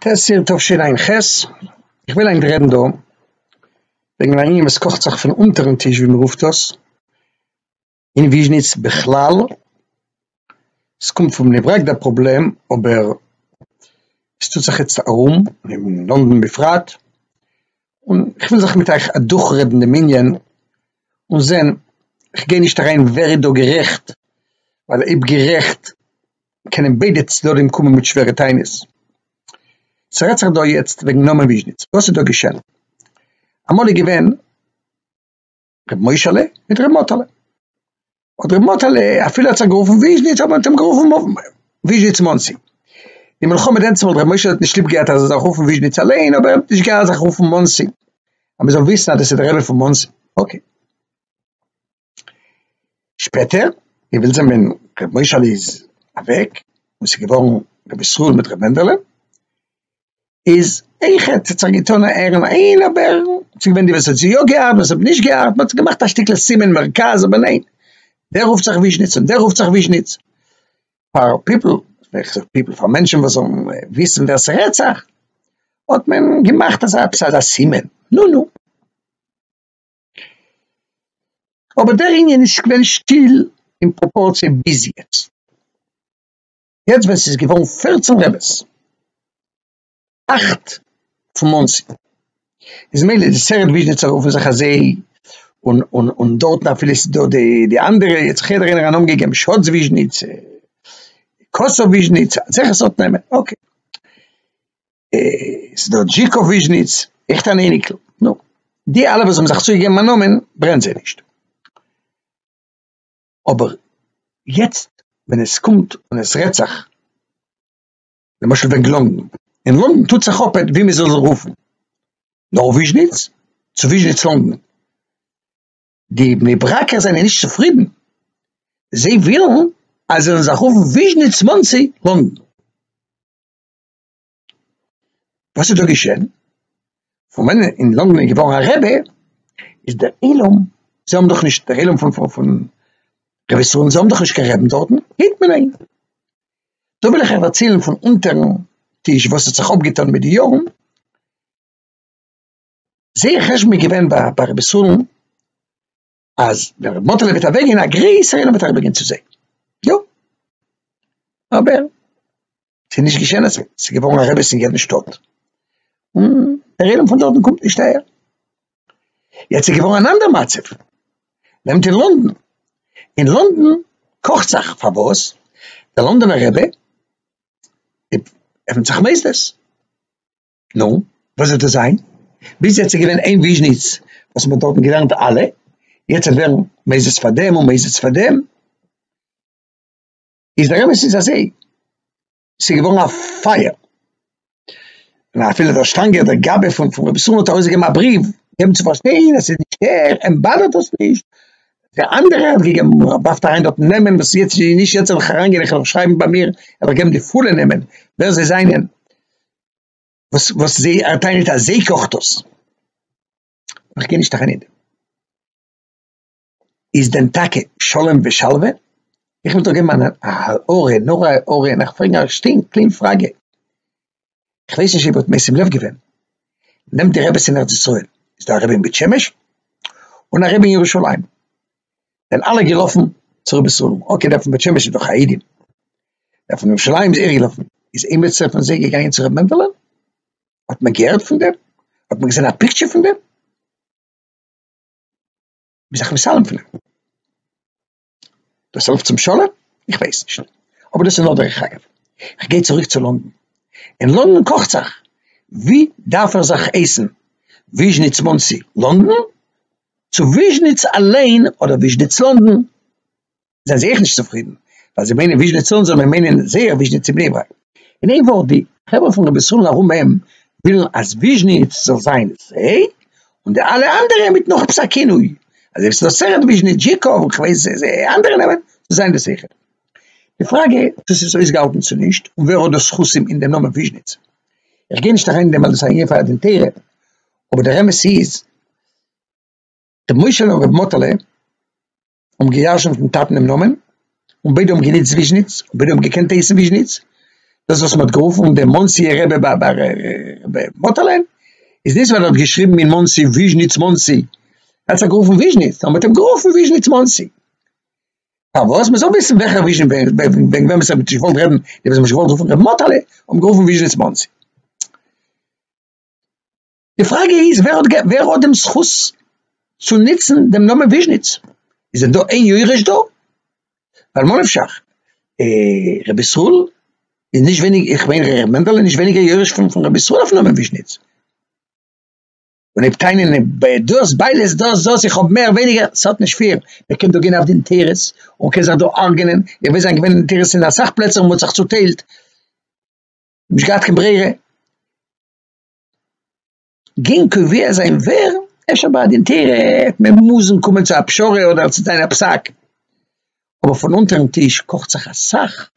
תסיר תשע"ח, איך וויל ענק רעדן דא וועגן א ענין וואס קאכט זיך פון אונטערן טיש ווי מען רופט דאס, אין וויזשניץ בכלל, עס קומט פון בני ברק דער פראבלעם אבער עס טוט זיך יעצט ארום אין לונדון בפרט, און איך וויל זיך מיט אייך אדורכרעדן דעם ענין און זען, איך גיי נישט אריין ווער איז דא גערעכט, ווייל אויב גערעכט קענען ביידע צדדים קומען מיט שווערע טענות. ס'רעדט זיך דא יעצט וועגן נאמן וויזשניץ, וואס איז דא געשען? אמאל איז געווען. ר' מוישעלע מיט ר' מאטעלע. האט ר' מאטעלע אפילו האט זיך גערופן וויזשניץ האט מען אים גערופן וויזשניץ מאנסי. די מלחמה דענצמאל ר' מוישעלע האט נישט ליב געהאט אז ער זאל זיך רופן וויזשניץ אליין אבער ער האט נישט געהאט זיך רופן מאנסי אז מען זאל וויסן אז דאס איז די רבי פון מאנסי. אקעי. שפעטער ווי ווילד זענען ר' מוישעלע איז אוועק און ס'איז געווארן ר' ישראל מיט ר' מענדעלע. איז איך האט זיך געטון א ערעם אין אבער ס'איז געווען די וואס האט יא געהאט וואס האט נישט געהאט מ'האט געמאכט א שטיקל סימן מרכז אבער ניין דער רופט זיך וויזשניץ און דער רופט זיך וויזשניץ פאר פיפל פיפל פאר מענטשען וואס זאלן וויסן ווער ס'רעדט זיך האט מען געמאכט אזא עפעס אזא סימן נו נו אבער דער ענין איז געווען שטיל אין פראפארציע ביז יעצט. יעצט ווען ס'איז געווארן פֿערצן רעבעס, אַכט פון מאנסי, איז מילא די סערעט וויזשניצער רופן זיך אזוי, און און און דארטן אפילו ס'איז דא די די אנדערע, יעצט זיך יעדער איינער א נאמען געגעבן, שאץ וויזשניץ, קאסוב וויזשניץ, אזעלכע סארט נעמען, אקעי, ס'איז דא דזשיקוב וויזשניץ, עכט אן אייניקל, נו, די אלע וואס האבן זיך צוגעגעבן א נאמען ברענט זיי נישט. אבער יעצט ווען עס קומט און עס רעדט זיך למשל וועגן לונדון, אין לונדון טוט זיך אפ ווי מען זאל רופן, נאר וויזשניץ צו וויזשניץ לונדון, די בני ברק'ער זענען נישט צופרידן, זיי ווילן אז עס זאל זיך רופן וויזשניץ מאנסי לונדון. וואס איז דא געשען? פון ווען אין לאנדאן איז געווארן א רבי איז דער עולם, זיי האבן דאך נישט, דער עולם פון פון פון רבי סרולנד, זיי האבן דאך נישט קיין רעבן דארטן, היט מען איין. דא וויל איך אייך דערציילן פון אונטערן טיש וואס האט זיך אפגעטון מיט די יארן, זייער חשבון איז געווען ביי רבי סרולנד, אז ווען ר' מאטעלע וועט אוועק גיין א גרעסער אינעם וועט אריבער גיין צו זיי, יא אבער ס'איז נישט געשען אזוי, ס'איז געווארן א רביס אין יעדן שטאט און דער עולם פון דארטן קומט נישט אהער, יעצט איז געווארן אן אנדער מצב, נעמט אין לונדון, אין לונדון קאכט זיך, פארוואס? דער לונדונער רבי עפנט זיך מוסדות. נו, וואס וועט עס זיין? ביז יעצט איז געווען אין וויזשניץ וואס מען האט דארטן געלערנט אלע, יעצט וועט ווערן מען איז עס פאר דעם און מען איז עס פאר דעם, איז דער אמת איז אזוי, ס'איז געווארן א פייער, און אפילו דער שטאנגער דער גאבע פון פון רבי סרולנד האט ארויסגעגעבן א בריוו געבן צו פארשטיין אז עס איז נישט ער, אים באדערט עס נישט, דער אנדערער האט געגעבן, מען ווארפט אריין דארטן נעמען וואס יעצט איז נישט יעצט זאל איך אריינגיין איך וועל שרייבן ביי מיר, ער זאל געבן די פולע נעמען ווער זיי זענען, וואס וואס זיי ער טענה'ט אז זיי קאכט דאס. איך גיי נישט אריין אין דעם. איז דען טאקע שלום ושלווה? איך וויל דא געבן אן הערה, נאר א הערה, און איך פרעג א שטינק קלין פראגע. איך ווייס נישט אויב האט משים לב געווען, נעמט די רבי'ס אין ארץ ישראל, איז דא א רבי אין בית שמש, און א רבי אין ירושלים. זענען אלע געלאפן צו רבי סלום, אקער דער פון בית שמש איז דאך א אידין, דער פון ירושלים איז אירגעלאפן, איז עימיצער פון זיי געגאנגען צו ר' מענדעלע? האט מען געהערט פון דעם? האט מען געזען א פיקטשער פון דעם? מ'איז דאך מסלם פון אים. דאס העלפט צום שלום? איך ווייס נישט, אבער דאס איז נאר דרך אגב. איך גיי צוריק צו לאנדאן, אין לאנדאן קאכט זיך, ווי דארף ער זיך עסן, וויזשניץ מאנסי לאנדאן? צו וויזשניץ אליין אדער וויזשניץ לאנדן זענען זיי אויך נישט צופרידן ווייל זיי מיינען וויזשניץ לאנדן זאל מען מיינען זייער וויזשניץ אין בני ברק. אין איין ווארט די חברה פון רבי סרול'ן ארום אים ווילן אז וויזשניץ זאל זיין זיי און די אלע אנדערע מיט נאך עפעס א כינוי אזוי ווי ס'איז אסר'ט וויזשניץ זשיקוב און כ'ווייס איזה אנדערע נעמען זאל זיין דאס אויכעט. די פראגע צו ס'איז אויסגעהאלטן צו נישט און ווער האט דאס זכותים אין דעם נאמען וויזשניץ כ'גיי נישט אריין אין דעם ווייל דאס איז א ענין פאר א דין תורה אבער דער אמת איז ר' משה און ר' מאטעלע האבן געיארשענט דעם טאטן דעם נאמען, און ביידע האבן גענוצט וויזשניץ, און ביידע האבן געקענט הייסן וויזשניץ, דאס וואס מען האט גערופן דער מאנסי'ער רבי ביי ביי ר' מאטעלע, איז נישט ווייל ער האט געשריבן אין מאנסי וויזשניץ מאנסי, ער האט זיך גערופן וויזשניץ, און מען האט אים גערופן וויזשניץ מאנסי. פארוואס? מען זאל וויסן וועלכער וויזשניץ וועגן וועגן וועמען עס האט מען נישט געוואלט רעדן, די וואס האבן נישט געוואלט רופן ר' מאטעלע האבן גערופן וויזשניץ מאנסי. די פראגע איז ווער האט ווער האט דעם זכות צו נוצן דעם נאמען וויזשניץ? איז דא איין יורש דא? ווייל ממה נפשך אה רבי ישראל איז נישט ווייניג איך מיין ר' מענדעלע איז נישט ווייניגער יורש פון פון רבי ישראל אויפן נאמען וויזשניץ. און אויב טענה'ן דאס ביידע איז דאס דאס איך האב מער ווייניגער ס'האט נישט פיל מען קען דא גיין אויף דעם תירוץ און קען זיך דא הארגענען איך ווייס זיין געווען אין תירוצים אין אסאך פלעצער און מ'האט זיך צוטיילט. נישט געהאט קיין ברירה, גענג קובע זיין ווער אפשר ביי א דין תורה העט מען מוזן קומען צו א פשרה אדער צו ציין א פסק, אבער פון אונטערן טיש קאכט זיך אסאך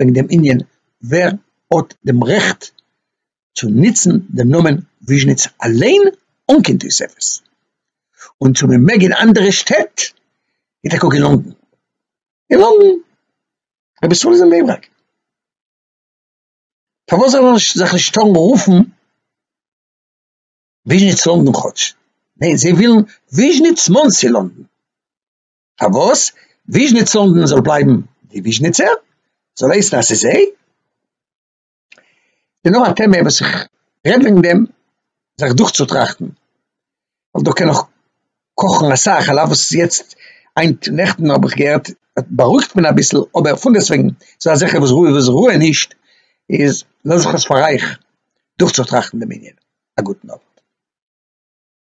וועגן דעם ענין ווער האט דעם רעכט צו נוצן דעם נאמען וויזשניץ אליין אן קיין תוספות, און צו מען מעג אין אנדערע שטעט ווי טאקע אין לונדון, אין לונדון, רבי ישראל איז אין בני ברק. פארוואס זאל מען זיך נישט טארן רופן וויזשניץ לונדון כאטש? ניין, זיי ווילן וויזשניץ מאנסי לונדון. פארוואס? וויזשניץ לונדון זאל בלייבן די וויזשניצער, זאל הייסן אז ס'איז זיי. ס'איז נאר א טעמע וואס איך רעד וועגן דעם זיך דורכצוטראכטן. ווייל דא קען נאך קאכן אסאך, על אף וואס ס'איז יעצט היינט נעכטן האב איך געהערט בארואיגט מען אביסל, אבער פונדעסטוועגן ס'איז דא אזעלכע וואס רואיג וואס רוען נישט, איז לאז איך עס פאר אייך דורכצוטראכטן דעם ענין, א גוטן אווענט.